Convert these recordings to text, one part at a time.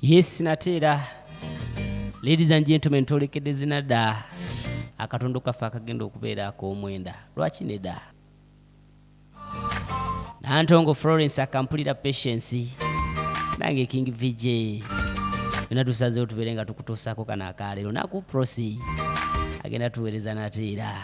yes nate era ladies and gentlemen twolekedde zina dda akatundu kaffe akagenda okubeera ak'omwenda lwaki ne dda nantongo florence akampulira patience nange king vj byona tusazeewo tubeere nga tukutuusaako kano akaleero naku prosi agenda tuweereza nate era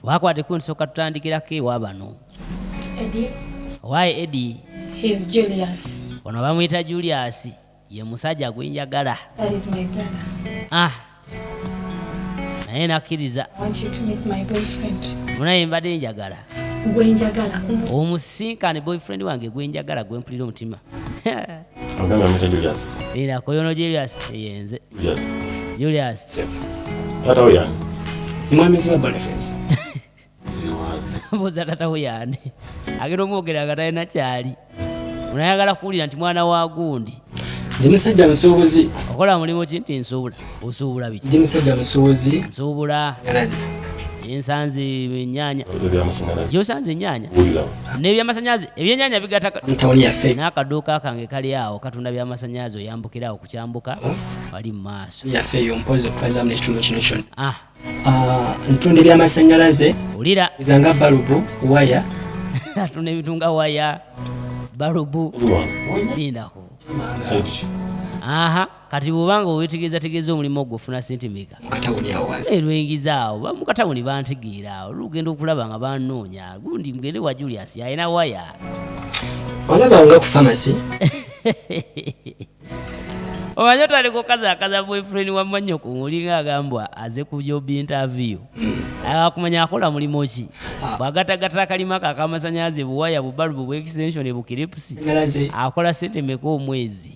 twakwata ekundi soka tutandikirako ewa bano owaye edi ono bamuyita julius ye musajja gwenjagala ah naye nakkiriza munaye mbadde njagala omusinkane boyfriend wange gwenjagala gwempulira omutima Ila koyono Julius yenze. Yes. Julius. Tata uyani. Mwami ziwa Boniface. Ziwazi. Mbuza tata uyani. Agero mwogera agataye na chali. Unayagala kuwulira nti mwana wa gundi. Ndi musajja nsuubuzi. Okola mulimu ki nti nsuubula? osuubula biki ndi musajja musuubuzi nsuubula ngalazi ensanze ennyanya gyosanze ennyanya n'ebyamasanyalaze ebyennyanya bigataka n'akaduuka kange kali awo katunda byamasanyalaze oyambukira awo kukyambuka wali mu maaso ah. ah, ntunda ebyamasanyalaze ulira zanga balubu waya atunda ebitunga waya balubu lindako aha kati bwoba nga owetegeezategeeza omulimu ogwo ofuna sente meka erwengiza eh, awo mukatawuni bantegeera awo lugenda okulaba nga banoonya gundi mugende wa julius alina waya olabanga ku famasi omanyi otandika okazakaza boyfriend wamannyo ku olinga agambwa aze ku jobi interview akumanya akola mulimu ki bwagatagatala kalima kakamasanyalaze buwaya bubalubu bwextension bukiripusi akola sente meka omwezi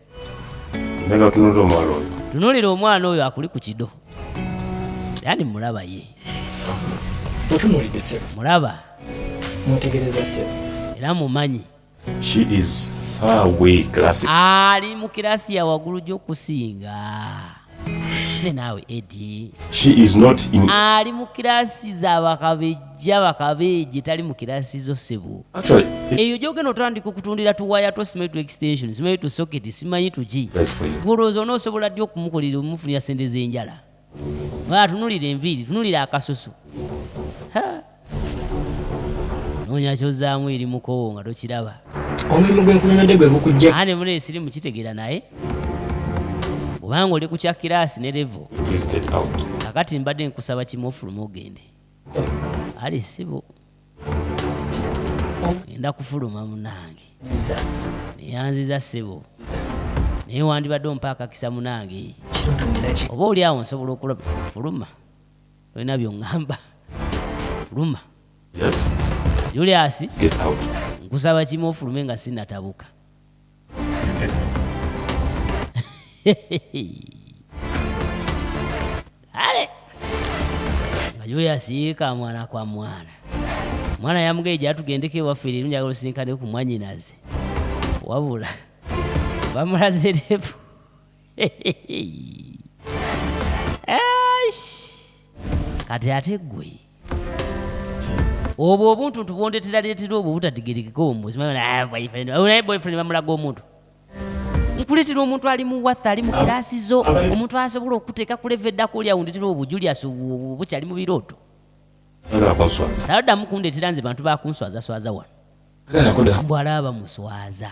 tunulira omwana oyo akuli ku kido yani mulaba ye mulaba era mumanyi ali mu kirasi ya waggulu gy'okusinga naawe edi ali mu kirasi za bakabejja bakabeje tali mu kirasi zo sebo eyo gyogenda otandika okutundira tuwaya to simanyi to extension simanyi to socket simanyi tuki golowooza onoosobola ddi okumukolera omufunira sente z'enjala atunulira enviiri tunulira akasusu ha. noonya kyozaamu eri mukowo nga tokiraba omulimu gwenkunyonyodde gwe gukujja ane muna esirimu kitegeera naye obanga oli ku kya kiraasi ne levo kakati mbadde nkusaba kimu ofuluma ogende ali sibo enda kufuluma munange neyanziza sibo naye wandibadde ompa akakisa munange oba oli awo nsobola okulaba fuluma olina byongamba luma yes. julius nkusaba kimu ofulume nga sinatabuka ale nga julius yiika mwana kwa mwana mwana yamugaye gyatugendeko ewaffe leero njagala osinkane ku mwanyinaze wabula bamulaze refu kati ate gwe obwo obuntu ntubwondeteraleetera obwo obutadigerekeko omuziboyfriend bamulaga omuntu nkuleetera omuntu ali mu watha ali mu kiraasi zo omuntu asobola okuteeka kuleva eddako oli awundetera obwo julius bukyali mu birooto taddamu kundeetera nze bantu bakunswazaswaza wano mbwalaba muswaza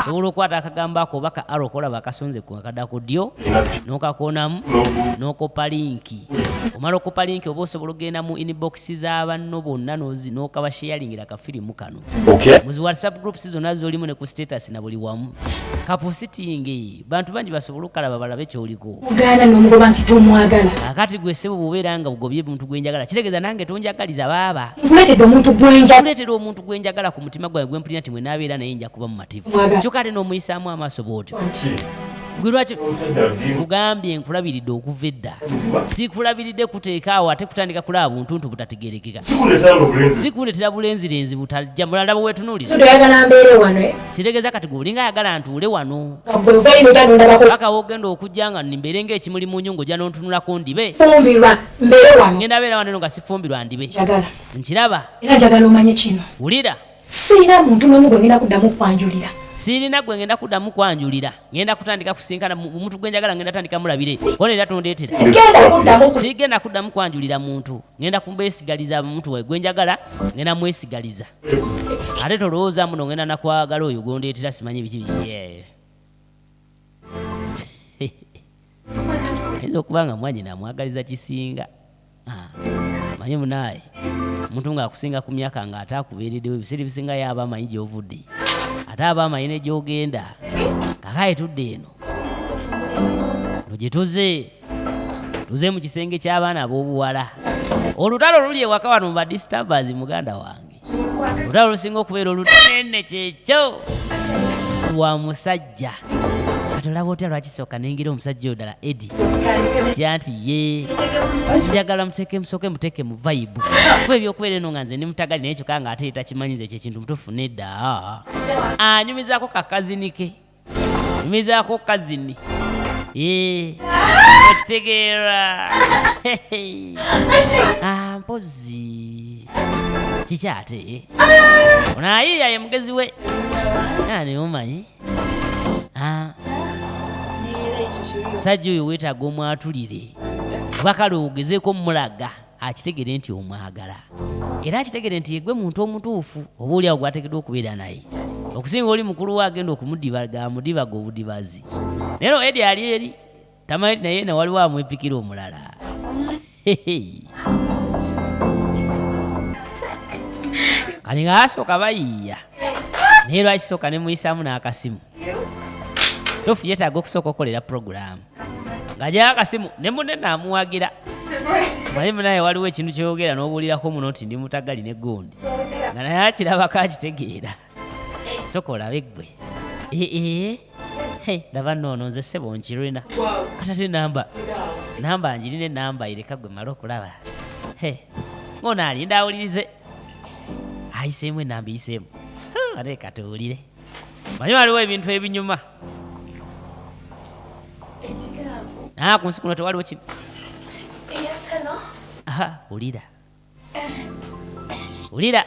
osobola okukwata akagambo ako oba ka aro kolaba akasonze kakada ku ddyo n'okakonamu n'okoppa linki omala okoppa linki oba osobola okugenda mu inbox za banno bonna n'okabasheyalingira kafirimu kano muzi whatsapp groups zonna zolimu ne ku status na buli wamu kapusitingi bantu bangi basobole okukalaba balabe kyoliko ogaana nomugoba nti tomwagala akati gwe sebo bwobeera nga ogobye omuntu gwenjagala kitegeeza nange tonjagaliza baaba nkuleetedde omuntu gwenjakuleetera omuntu gwenjagala ku mutima gwange gwempulira nti mwenaabeera naye nja kuba mumativu kyoka ate n'omuyisaamu amaaso bwotyo gwe lwaki nkugambye nkulabiridde okuva edda sikulabiridde kuteekaawo ate kutandika kulaba buntu nti butategerekeka sikuletera bulenzirenzi butajja mulala bwewetunulira oyagala mbeere wano eh? sitegeza kati gwolinga ayagala ntuule wano paka wogenda okujja nga mbeere nga ekimuli mu nyungu ojja nontunulako ndibe ngenda beera wano nga sifumbirwa ndibe nkiraba wulira sirina muntu nomu gwengenda kuddamu kwanjulira sirina gwe ngenda kuddamu kwanjulira ngenda kutandika kusinkana omuntu gwe njagala ngenda tandika mulabire ona era tondeetera sigenda kuddamu kwanjulira muntu ngenda kumbesigaliza omuntu we gwe njagala ngenda mwesigaliza ate tolowooza muno ngenda nakwagala oyo gondeetera simanyi biki biyeeyo ayinza okuba nga mwanyina amwagaliza kisinga ah, manyi munaaye omuntu ngaakusinga ku myaka nga ate akubeereddewo ebiseera ebisinga yaaba amanyi gyovudde ate aba amanyi negyogenda kakaye tudde eno no gyetuze tuze mu kisenge ky'abaana ab'obuwala olutalo luli ewaka wano muba disturbers muganda wange olutalo lusinga okubeera olunene kyekyo lwa musajja atolaba otya lwakisooka nengera omusajja odala edi tya nti ye njagala muteeke musooke muteeke mu vaibu ku ebyokubeera eno nga nze ndi mutagali naye kyoka nga ate takimanyiza ekyo ekintu mutufu nedda anyumizaako kakazinike nyumizaako kazini Eh, okitegeera Ah, mpozi kiki ate ono ayiiya ye mugezi we ani omanyi Ah, musajja oyo weetaaga omwatulire kuba kale ogezeeko mulaga akitegere nti omwagala era akitegere nti yegwe muntu omutuufu oba oliawo gwategeddwa okubeera naye okusinga oli mukulu we agenda okumudibaga amudibaga obudibazi naye no edi ali eri tamanyi ti naye nawaliwo amwepikira omulala kati nga asooka bayiiya naye lwaki sooka nemuyisaamu n'akasimu tofu yetaaga okusooka okukolera puroguramu ngajayo akasimu ne munne naamuwagira naye munaye waliwo ekintu kyoyogera n'obuulirako muno nti ndi mutagali ne gundi nga naye akirabako akitegeera soka olabe ggwe ee ndaba noono nze sebo nkirina katate namba namba njirina enamba ireka gwe mala okulaba ng'ono alinda awulirize ayiseemu enamba eyiseemu ate katuwulire manyi waliwo ebintu ebinyuma Ah, ku nsi kuno tewaliwo kino wulira wulira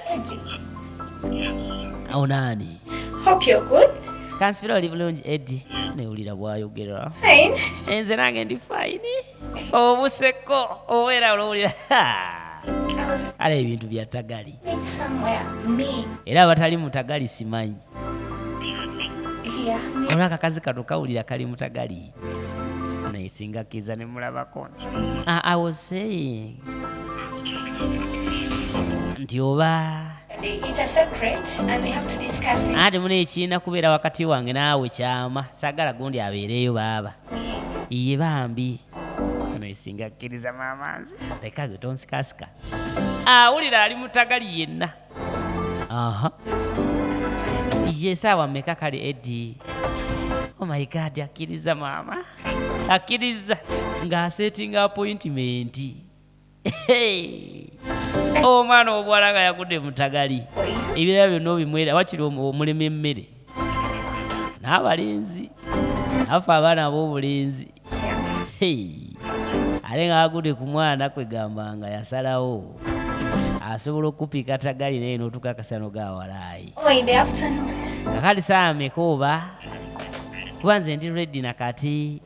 awo naani kansibira oli bulungi edi newulira bwayogera enze nange ndi fayini obuseko obeera olowulira ala ebintu bya tagali era abatali mutagali simanyi olwa akakazi kano kawulira kali mutagali naye singa kiza ne mulabako ah, i was saying nti oba ate muna ekiina kubeera wakati wange naawe kyama sagala gundi abeereeyo baaba iye bambi eno esinga kkiriza maama nze leka gwe tonsikasika awulira ali mutagali yenna aha ye saawa meka kale edi oh my god akkiriza maama akkiriza ng'aseetinga appointment omwana obuwala nga yagudde mutagali ebirala byonna obimwera wakiri omulima emmere n'abalenzi nafe abaana ab'obulenzi ate nga agudde ku mwana kwegamba nga yasalawo asobola okukupika tagali naye n'otuka akasano gawalaayi Oh, in the afternoon. Kakati saa mekuuba kuba nze ndi ready na kati.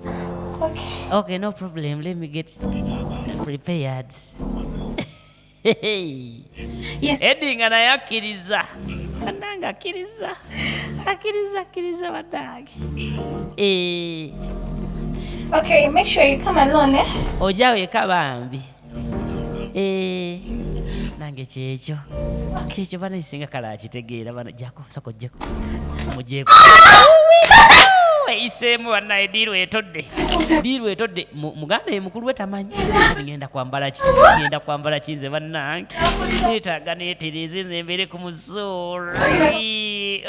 Okay. Okay, no problem. Let me get prepared. yes. Eddie nga naye akkiriza. Ananga akkiriza. Akkiriza akkiriza bannange. Eh. Okay, make sure you come alone, eh? Oja weka bambi. Eh, nange kyekyo kyekyo bana isinga kala akitegeera bano jako soko jeko mujeko eyiseemu banaye diiru etodde diiru etodde muganda ye mukulu we tamanyi ngenda kwambala ki ngenda kwambala ki nze bannange neetaaga neetereeze nze mbeere ku musuuri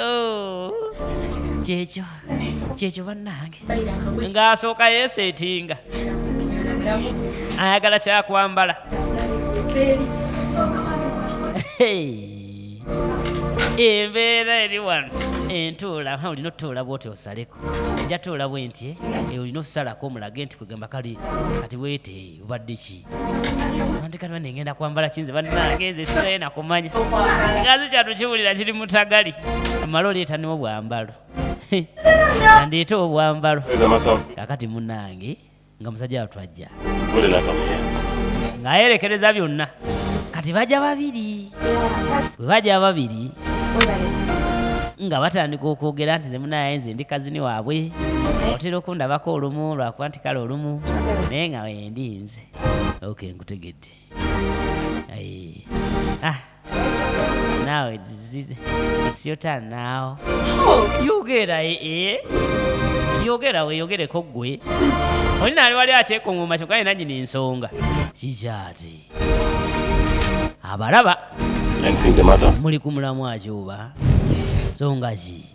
oh. kyekyo kyekyo bannange ng'asooka yeeseetinga ayagala kyakwambala embeera eri wano entuula olina otutuula bwoti osaleko ejja tuula bwenti eh? eh, olina osalako omulage nti kwegamba kale kati bwete eh, obadde ki andikati bane ngenda kwambala kinze bannagenze sinaye nakumanya ngazi kyatukiwulira kiri mutagali amala oleetaniwo bwambalo andeeta obwambalo kakati munange nga musajja watwajja ngayerekereza byonna kati baja babiri bwe baja babiri nga batandika okwogera nti zemunaye nze ndi kazini waabwe otera okundabako olumu lwakuba nti kale olumu naye nga wendi nze ok nkutegedde ah. Now it's, it's, it's your turn now. Talk. Yogera eh, eh. Yogera we yogere ko gwe. Oli nali wali akyekunguma kyokka yena nyini nsonga. Kikyati. Abalaba. Anything the matter? Muli ku mulamwa ki oba? Nsonga ki?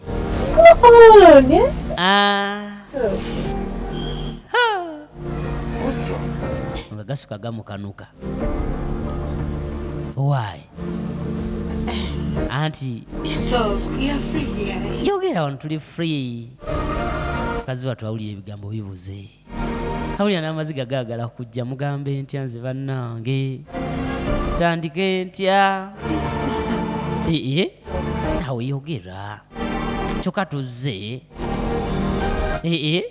nga gasuka gamukanuka why anti yogera wano tuli free kazi watu awulira ebigambo bibuze awulira n'amaziga gaagala kujja mugambe ntya nze bannange tandike ntya ee nawe yogera kyokka tuzze ee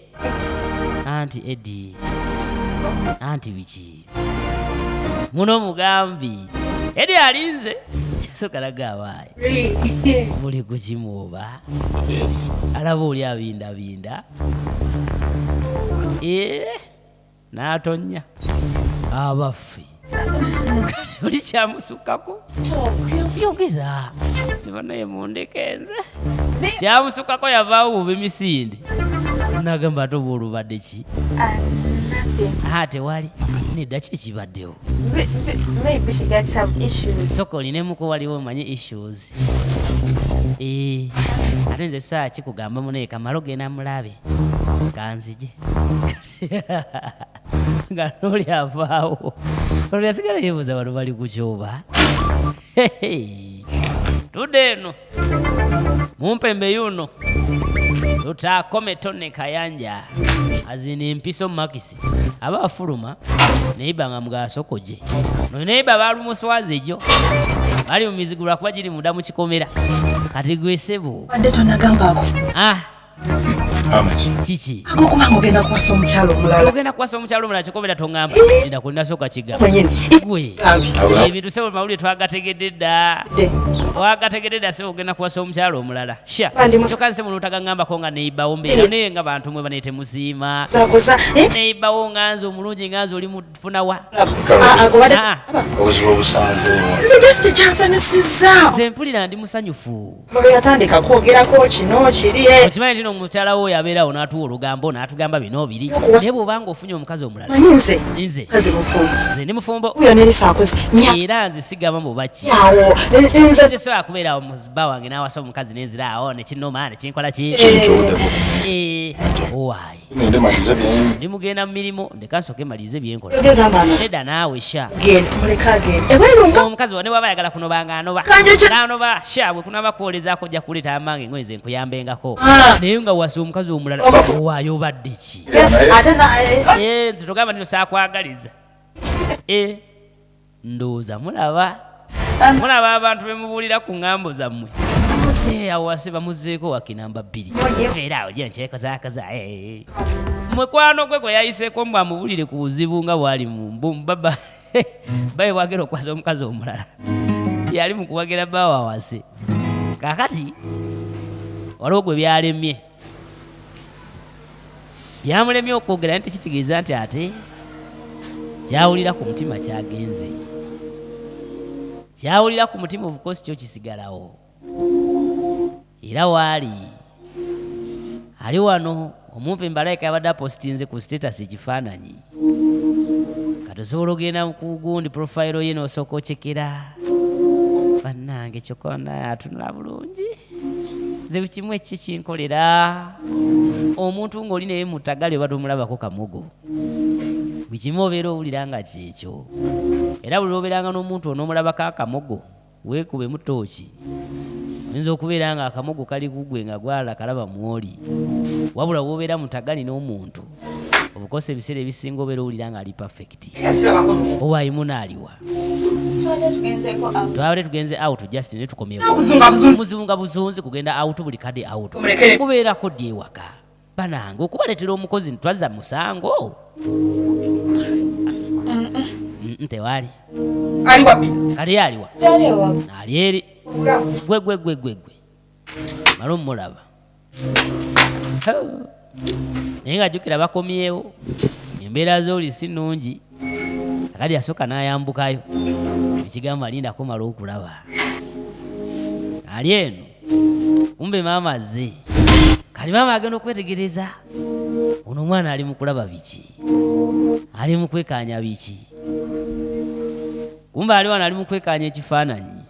anti edi anti biki muno mugambi eri alinze yasokalaga abaayi muli kukimuuba alaba oli abindabinda eh, n'atonya abaffe kati oli kyamusukako yogera sibanaye mundeke nze kyamusukako yavaawo bubi misinde nagamba ate oba olubadde ki ha tewali nedda ki ekibaddewo soka olinemuko waliwo omanyi issues eh, ate nze saa kikugamba munaye kamalo genda mulabe kanzije nga noli avaawo olwo yasigala yebuuza bano bali kukyoba tudde eno mumpembe yuno lutakome tone kayanja azina empiso makisi aba afuluma neiba nga mugasokoje no neiba balumuswazi ejo bali mumizigulwa kuba giri munda mukikomera kati gwesebo ah kiki gokubanga ogenda kuwasa omukyalo omulala ogenda kuwasa omukyalo omulala kikobera tongamba eda ku nasooka kigambwe ebintu sebo mawulire twagategedde dda wagategedde dda sebo ogenda kuwasa omukyalo omulala sha toka nsebo notagangambako nga neibawo mbeera naye nga bantu mwe banetemusiima neibawo nga nze omulungi nga nze oli funa wa nze mpulira ndi musanyufu yatandika kwogerako kino kiri eh. okimanyi tino omukyala wo yabeerawo n'atuwa olugambo n'atugamba bino biri naye bw'obanga ofunye omukazi omulala nze nze ndi mufumbo era nze sigamba mubaki nze sobola kubeerawo muziba wange n'awasa omukazi nenziraawo nekinoma nekinkola ki eh, eh, ndi mugenda mu mirimu ndeka nsoke malirize byenkola nedda naawe sha omukazi wa ne waba ayagala kunoba nga anoba anoba sha bwe kunaba kwolezako ojja kuleeta amange ngoye nze nkuyambengako ah. naye nga wasa omukazi omulala owaayo obadde ki eh, eh, eh, nze togamba nino saakwagaliza ndowooza mulaba mulaba abantu bemubuulira ku ngambo zammwe awase bamuzeeko wakinamba bbiri era awo gye nkyekozakoza eh. mwekwano gwe gwe yayiseeko mbu amubulire ku buzibu nga bwali mubaba baye bwagera okukwasa omukazi omulala yali mukuwagira bawawase kakati waliwo gwe byalemye byamulemye okwogera nti kitegeeza nti ate kyawulira ku mutima kyagenze kyawulira ku mutima obukosi kyo kisigalawo era waali ali wano omumpi mbalaika yabadde apositinze ku status ekifaananyi kati osobola ogenda kugundi profile ye nosooka okyekera bannange kyokka banaye atunula bulungi nze bukimu ekiki kinkolera omuntu ng'oli naye mutagali oba tomulabako kamogo bukimu obeera owulira nga kyekyo era buli lwobeeranga n'omuntu onomulabako akamogo Weekubemu ttooci. Oyinza okubeera ng'akamogo kali ku ggwe nga gwala kalaba mw'oli. Wabula w'obeera mutagani n'omuntu, obukosa ebiseera ebisinga obeera owulira ng'ali pafekiti. Oba ayimuna aliwa? twabadde tugenze out just ne tukomyeomuzibu nga buzunzi kugenda out buli kade out kubeerako ddi ewaka banange okubaletera omukozi ntwaza musango ntewali kali aliwa ali eri gwegwegwegwegwe mala omulaba naye nga jukira bakomyewo embeera zoli si nungi akati yasooka n'ayambukayo ekigambo alinda kumala okulaba ali eno kumbe maama azze kati maama agenda okwetegereza ono omwana ali mu kulaba biki ali mu kwekanya biki kumbe ali wano ali mukwekaanya ekifaananyi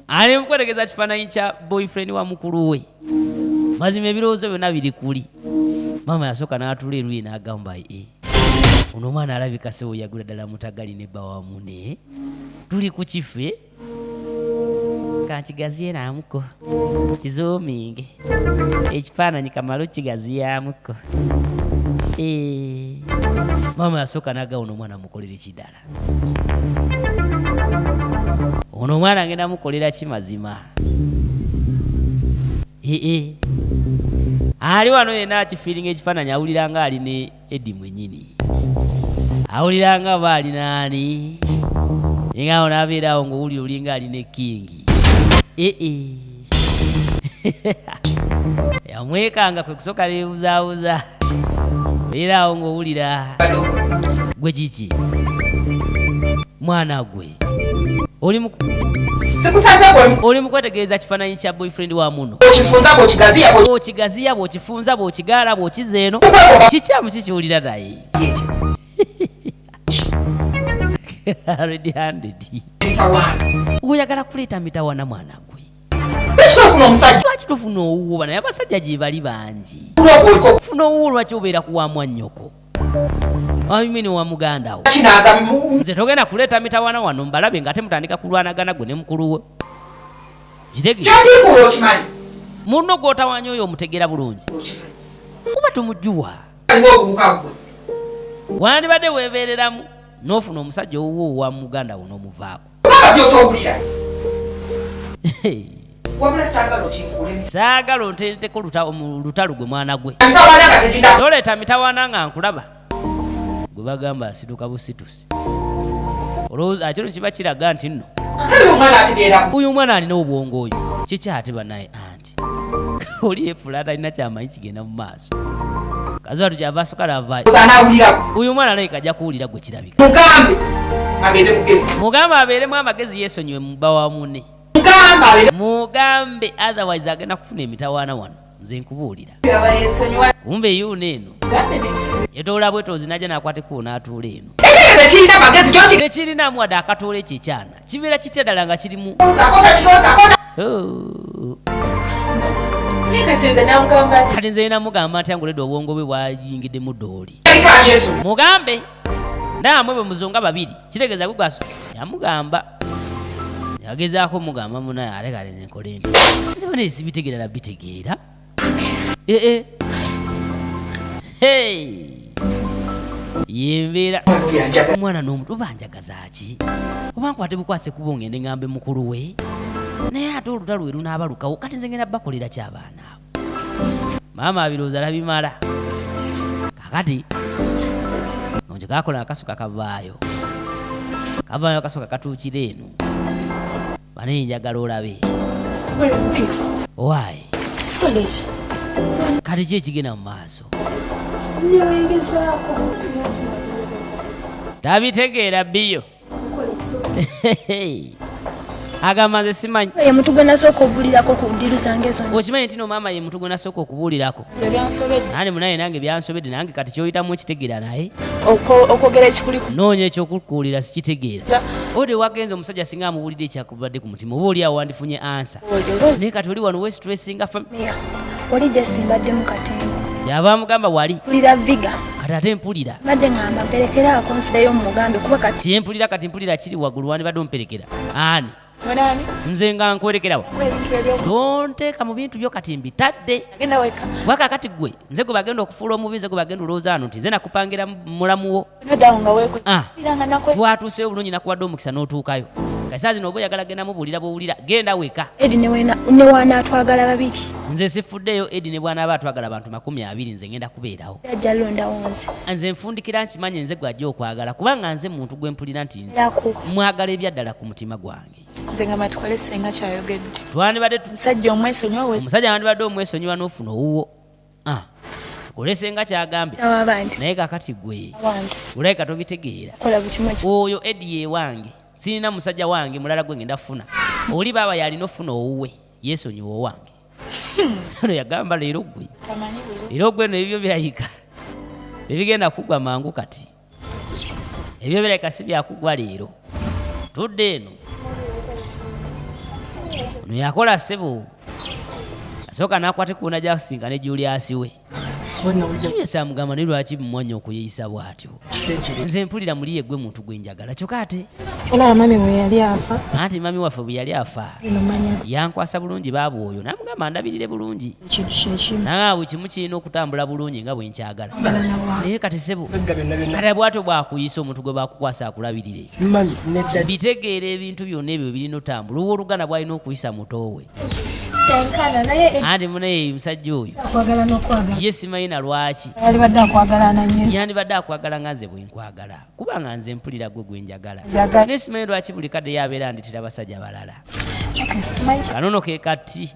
ali mukwetegeza kifaananyi kya boyfriend wa mukulu we mazima ebirowoozo byonna biri kuli maama yasooka n'atula eruyi n'agamba e eh, ono omwana alabika sewo yagula ddala mutagali ne bawamune tuli ku kife kankigaziyenamuko kizuminge ekifaananyi kamala okigaziyamuko eh, maama yasooka nagawona omwana mukolera ekidala ono omwana ngenda mukolera ki mazima ee eh, eh. ali wano yena akifiiringa ekifaananyi awulira nga ali ne Eddie mwenyini awulira nga oba ali naani ninga awo nabeera awo ngaowulira olinga ali ne kingi ee eh, eh. yamwekanga kwe kusooka nebuzabuza era awo ngaowulira gwe kiki mwana gwe oli mu oli mukwetegereza kifaananyi kya boyfriend wa muno okigaziya bwokifunza bwokigaala bwokiza eno kikyamu kikiwulira naye oyagala kuleeta mitawana mwana gwe lwaki tofuna owuwo bana abasajja gyebali bangi funa owuwo lwaki obeera kuwamwa nnyoko amini wa muganda wo nze togenda kuleeta mitawana wano mbalabe nga ate mutandika kulwanagana gwe ne mukulu we munno gwotawanya oyo omutegeera bulungi kuba tumujuwa wandibadde weebeereramu n'ofuna omusajja owuwo wa muganda wo n'omuvaako Baba byotowulira. Wabula saagala okinkuulemu. Saagala onteeteko lutalo gwe mwana gwe. Mitawaana nga tegindaba. Toleeta mitawaana nga nkulaba. Gwe bagamba asituka busitusi. Olowooza kino kiba kiraga nti nno. Uyu mwana alina obwongo oyo kiki ate banaye anti kati oli yefula atalina kyamanyi kigenda mu maaso kaziba tukyava asukala avayo uyu mwana alabika ajja kuwulira gwe kirabika mugambe abeeremu amagezi yesonyiwe muba wa mune mugambe otherwise agenda kufuna emitawaana wano nze nkubuulira kumbe yuuna eno yetoola bwetoozi najja nakwatekuwo n'atuula eno tekirinamu wadde akatuula ekyekyana kibeera kitya ddala nga kirimu kati nze namugamba ntya ngoleda obwongo bwe bwayingidde mu dooli mugambe naamwe bwe muzonga babiri kitegeeza gwe gwaso yamugamba yagezaako mugamba munaye alekalenze nkolembi nze bana ezibitegeera nabitegeera ee hey yembeera omwana n'omutu banjagaza ki oba nkwate bukwase kuba ongende ngambe mukulu we naye ate olutalo we lunaabalukawo kati nze ngenda bakolera ki abaana abo maama abirooza labimala kakati nonje kakola akasuka kavaayo kavaayo akasuka katuukira eno Mane njagala olabe. Why? Kati ki ekigenda mu maaso? Tabitegeera biyo. agamba nze simanyi ye mutu gwe nasooka obuulirako ku ndiru zange zonna okimanyi ntino maama ye mutu gwe nasooka okubuulirako nane munaye nange byansobedde nange kati kyoyitamu ekitegeera naye okwogera ekikuli noonya ekyokukuulira sikitegeera ode wagenza omusajja singa amuwulidde ekyakubadde ku mutima oba oli awo wandifunye ansa naye kati oli wano westressinga famia oli just mbadde mu katemba kyava amugamba wali mpulira viga kati ate mpulira mbadde ngamba mperekera akonsidayo mumugambe kuba kati kyempulira kati mpulira kiri waggulu wandibadde omperekera ani nze nga nkwerekerawo tonteeka mu bintu byo kati mbitadde waka kati gwe nze gwe bagenda okufuula omubi nze gwe bagenda olowooza ano nti nze nakupangira mulamuwo ah. twatuuseyo obulungi nakuwadde omukisa n'otuukayo kasaa zino oba oyagala genda mubuulira bwowulira genda weka edi newanaatwagala babiri nze sifuddeyo edi ne bwanaaba atwagala abantu makumi abiri nze ngenda kubeerawo nze nfundikira nkimanyi nze gwajja okwagala kubanga nze muntu gwempulira nti mwagala ebyaddala ku mutima gwange nze nga matukole senga kyayogedde twandibadde musajja omwesonyiwa omusajja wandibadde omwesonyiwa n'ofuna owuwo ah. olese nga kyagambye naye kakati gwe olabika tobitegeera oyo edi yewange sirina musajja wange mulala gwe ngenda funa oli baaba yalina ofuna owuwe yesonyiwa owange no yagamba leero gwe era ogweno ebibyo birayika tebigenda kugwa mangu kati ebyo bireka si byakugwa leero tudde eno no yakola sebo asooka nakwate kuona jakusinga ne juliasi we samugamba naye lwaki mumwanya okuyeyisa bwatyo nze mpulira muli yegwe muntu gwenjagala kyoka ate anti mami waffe bweyali afa yankwasa bulungi baabwoyo namugamba ndabirire bulungi nawe awo kimu kirina okutambula bulungi nga bwenkyagala naye kati sebo kati bwato bwakuyisa omuntu gwe bakukwasa akulabirire bitegeera ebintu byonna ebyo birina otambula owa oluganda bwalina okuyisa mutoowe andi munaye musajja oyo ye simanyina lwaki yandibadde akwagala nga nze bwenkwagala kubanga nze mpulira gwe gwenjagala naye simanyi lwaki buli kadde yabeera nditira basajja balala kanono kekati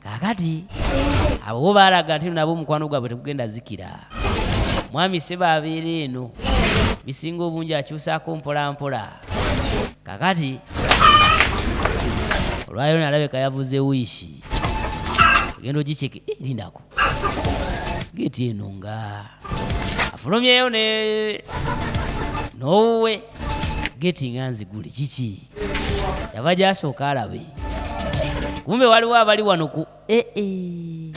kakati abo bo baalaga nti nabo omukwano gwabwe tegugenda zikira mwami seba abeera eno bisinga obungi akyusaako mpolampola kakati olwayo nalabeka yavuze wiishi ogenda ogikyeke eh, lindako geeti eno nga afulumyeyo ne n'owuwe geeti nga nzigule kiki yava gyasooka alabe kumbe waliwo abali wano ku ee eh, eh.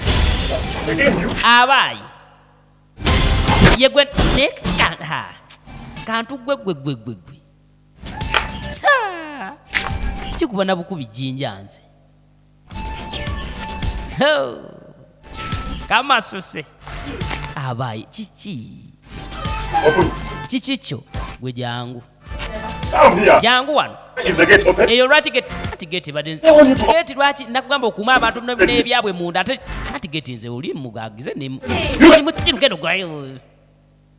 abaayi yegwe kantu gwe gwe gwe gwe gwe kikuba na bukubi jinja nze kamasuse abayi kiki kiki kyo gwe jangu jangu wano eyo lwaki geti badegeti lwaki nakugamba okuuma abantu n'ebyabwe munda ate ati geti nze oli mugagize nemugenda ogulayo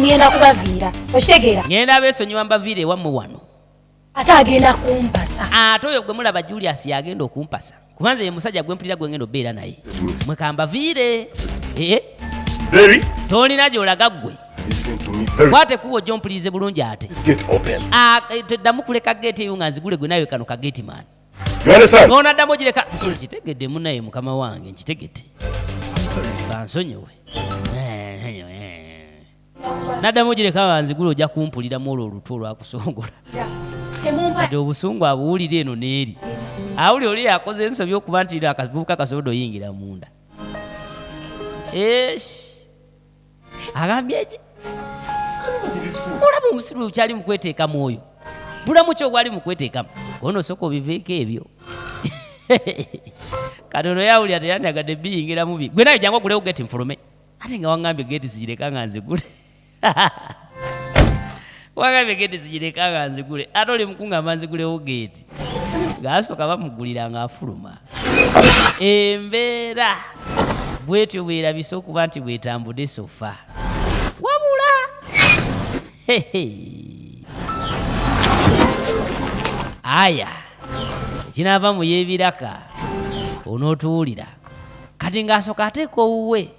ngenda kubaviira okitegeera ngenda beesonyiwa mbaviira ewammwe wano ate agenda kumpasa ate oyo gwe mulaba julius yagenda okumpasa kuba nze ye musajja gwe mpulira gwe ngenda obeera naye mwe kambaviire ee eh? tolina gyolaga ggwe kwate kuba ojja ompulirize bulungi ate ah, eh, teddamu kuleka geeti eyo nga nzigule gwe nawe kano kageeti maani nonaddamu ogireka nkitegedde munaye mukama wange nkitegedde bansonyiwe naddamu ogireka banzigula ojja kumpuliramu olwo olutwe olwakusongola kati obusungu abuwulira eno neeri awuli oli yakoze ensobi okuba nti akavubuka kasobola oyingira munda esh agambye ki olaba omusiru okyali mukweteekamu oyo bulamu kyo gwali mukweteekamu ono osooka obiveeko ebyo kati ono yawulira teyandagadde biyingiramu bi gwe naye jangu ogulewo geti nfulume ate nga wangambye geti zigireka nga nzigule wagambye geti zigireka nga nzigule ate oli mukungamba nzigulewo geeti ng'asooka bamugulira ng'afuluma embeera bwetyo bwerabise okuba nti bwetambude sofa wabula aya ekinaava mu y'ebiraka onootuwulira kati ng'asooka ateeka owuwe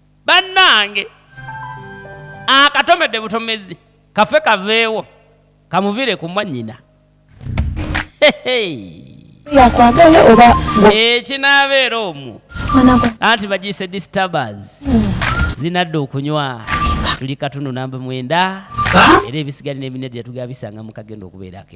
bannange akatomedde butomezi kafe kaveewo kamuvire ku mwanyina yakwagala oba ekinaabeera eh, omu anti bagiyise disturbers hmm. zinadda okunywa tuli katundu namba mwenda era ebisigali n'ebinedi yatugabisanga mukagenda okubeerako